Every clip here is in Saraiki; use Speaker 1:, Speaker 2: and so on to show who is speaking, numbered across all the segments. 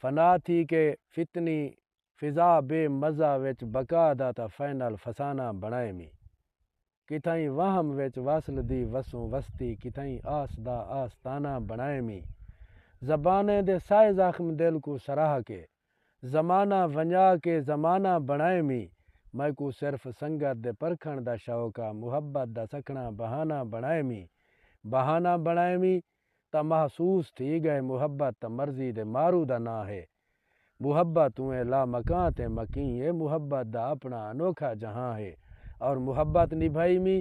Speaker 1: فنا تھی کے فتنی فضا بے مزہ وچ بقا دا تاں فائنل فسانہ بݨائے می کتھائیں وہم وچ وصل دی وسوں وستی کتھائیں آس دا آستانہ بݨائے می زبانیں دے سائے زخم دل کوں سراہ کے زمانہ ونڄا کے زمانہ بݨائے می میکوں صرف سنگت دے پرکھݨ دا شوق آ محبت دا سکھݨا بہانہ بݨائے می بہانہ بݨائے می تاں محسوس تھی ڳئے محبت تاں مرضی دے مارو دا ناں ہے محبت اونہے لا مکاں تے مکیں اے محبت دا اپݨا انوکھا جہاں ہے اور محبت نبھائیمی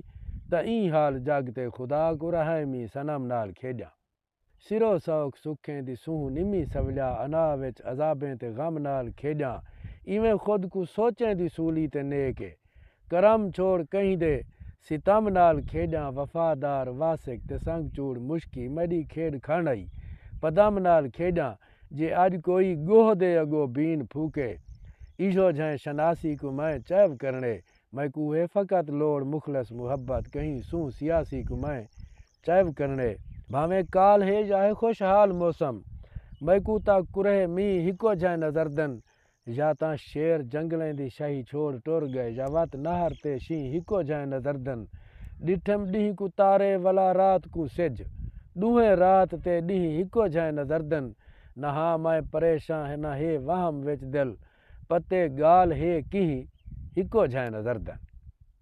Speaker 1: تاں ایں حال جگ تے خدا کوں رہائیمی صنم نال کھیݙاں سرو سوکھ سکھیں دی سونہہ نمی سولیا انا وچ عذابیں تے غم نال کھیݙاں ایویں خود کوں سوچیں دی سولی تے نیک اے کرم چھوڑ کہیں دے ستم نال کھیݙاں وفادار واسک تے سنگ چوڑ مشکی میݙی کھیݙ کھن آئی پدم نال کھیݙاں جے اڄ کوئی ڳوہ دے اڳو بین پھوکے ایہو جھیں شناسی کوں میں چیو کرݨے میکوں ہے فقط لوڑ مخلص محبت کہیں سوں سیاسی کوں میں چیو کرݨے بھانویں کال ہے یا ہے خوشحال موسم میکوں تاں کرہ مینہ ہکو جھیں نظردن یا تاں شیر جنگلیں دی شاہی چھوڑ ٹر گئے یا وت نہر تے شینہہ ہکو جھائیں نظردن ڈٹھم ڈینہہ کوں تارے ولا رات کوں سجھ ڈوہیں رات تے ڈینہہ ہکو جھائیں نظردن نہ ہاں مائیں پریشاں ہے نہ ہے وہم وچ دل پتے گالھ ہے کینہہ ہکو جھائیں نظردن۔